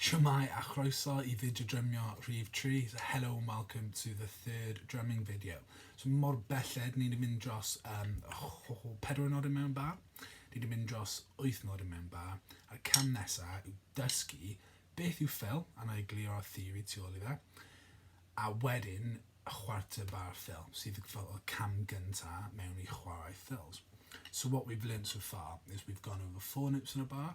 Shwmae a chroeso i fideo drymio rhif tri, so hello and welcome to the third drumming video. So mor belled ni 'di mynd dros um, oh, pedwar nod yn mewn bar, ni 'di mynd dros wyth nod yn mewn bar, a'r cam nesa yw dysgu beth yw fill, a na i glirio'r theori tu ôl i fe, a wedyn chwarter bar fill, sydd fel y cam gynta mewn i chwarae fills. So what we've learnt so far is we've gone over four notes in a bar,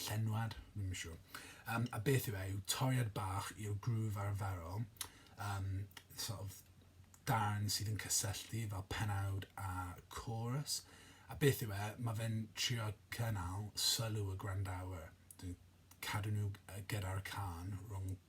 Llenwad? Dwi'm yn siwr. Yym a beth yw e yw toriad bach i'r groove arferol yym sort of darn sydd yn cysylltu fel penawd a chorus a beth yw e mae fe'n trio cynnal sylw y gwrandawyr dwi'n cadw nhw gyda'r cân rhwng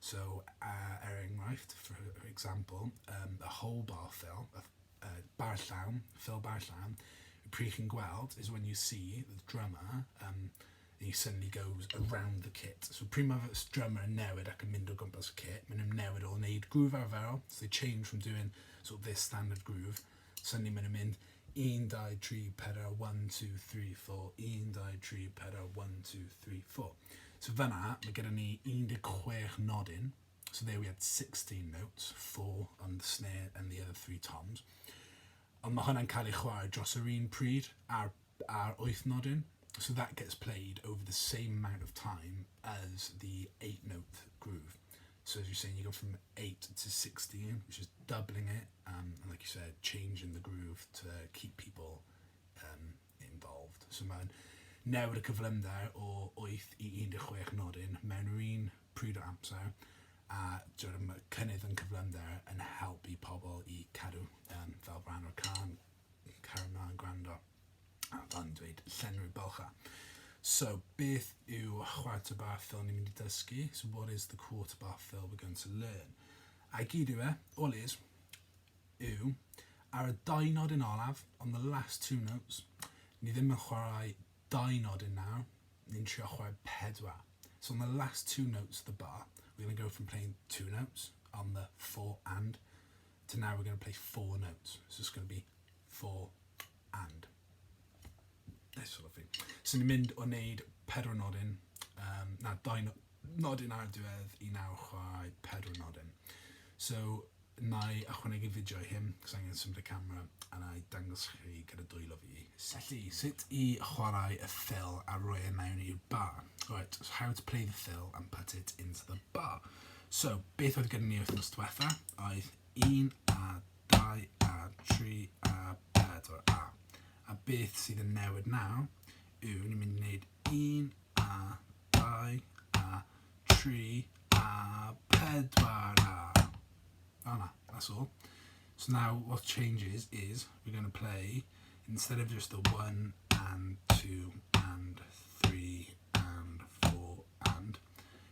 So, er enghraifft, for example, yym a whole bar fill, y ff- y bar llawn, fill bar llawn, pryd chi'n gweld is when you see the drummer yym he suddenly goes around the kit. So pryd mae fy- s- drummer yn newid ac yn mynd o gwmpas y kit, maen nhw'n newid o wneud groove arferol, so they change from doing sort of their standard groove, Sa ni'm yn mynd un dau tri pedair one two three four un dau tri pedair one two three four. So fanna mae gyda ni 16 nodyn. So there we had 16 notes, four on the snare and the other three toms. Ond mae hwnna'n cael ei chwarae dros yr un pryd a'r a'r wyth nodyn, so that gets played over the same amount of time as the eight note groove. So as you're saying, you go from 8 to 16, which is doubling it, um, and like you said, changing the groove to keep people um, involved. So mae'n newid y cyflymder o 8 i 16 nodyn mewn yr un pryd o amser a dyw'r cynnydd yn cyflymder yn helpu pobl i cadw um, fel rhan o'r can cario mlaen gwrando a fan dweud llenwi bylcha. So, beth yw chwarter bar fill ni'n mynd i dysgu? So, what is the quarter bar fill we're going to learn? A gyd yw e, all is, yw, ar y dau nod yn olaf, on the last two notes, ni ddim yn chwarae dau nod yn nawr, ni'n trio chwarae pedwar. So on the last two notes of the bar, we're going to go from playing two notes on the four and So now we're going to play four notes. So it's going to be four and. This sort of thing. So ni'n mynd o wneud pedwar nodyn, um, na, dau nodyn ar diwedd i naw chwai pedwar nodyn. So na i achwanegu fideo i hyn, cos angen symud y camera, a na i dangos chi gyda dwylo fi. Felly, sut i chwarae y ffil a roi e mewn i'r bar. Right, so how to play the fill and put it into the bar. So, beth oedd gyda ni wythnos diwetha? Oedd un a dau a tri a pedwar a. A beth sydd yn newid nawr yw ni'n mynd i wneud un a dau a tri a pedwar a. Fel 'na, that's all. So now what changes is we're going to play instead of just the one and two and three and four and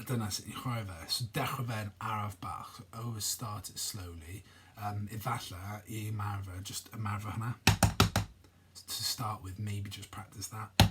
a dyna sut ni'n chwarae fe. So dechrau fe'n araf bach, always start it slowly, um, efallai i ymarfer, just ymarfer hwnna. To start with, maybe just practice that.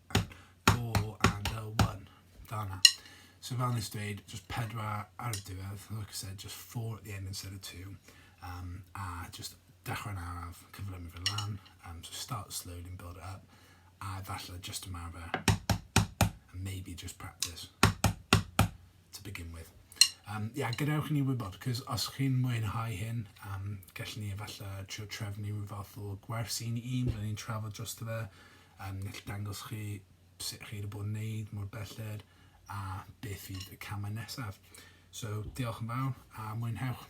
Four and a one. Fel 'na. So fel wnes i dweud, jyst pedwar ar y diwedd, like I said, just four at the end instead of two. Um, a jyst dechrau'n araf, cyflymu fe lan, um, so start slowly and build it up, a efallai jyst ymarfer, and maybe just practice to begin with. Um, yeah, gadewch i ni wybod, cos os chi'n mwynhau hyn, um, gallwn ni efallai trio trefnu rhyw fath o gwersi ni un, byddwn ni'n trafod dros fe, Yn gallu dangos chi sut chi wedi bod yn neud, mor belled a beth fydd y camau nesaf. So, diolch yn fawr a mwynhewch.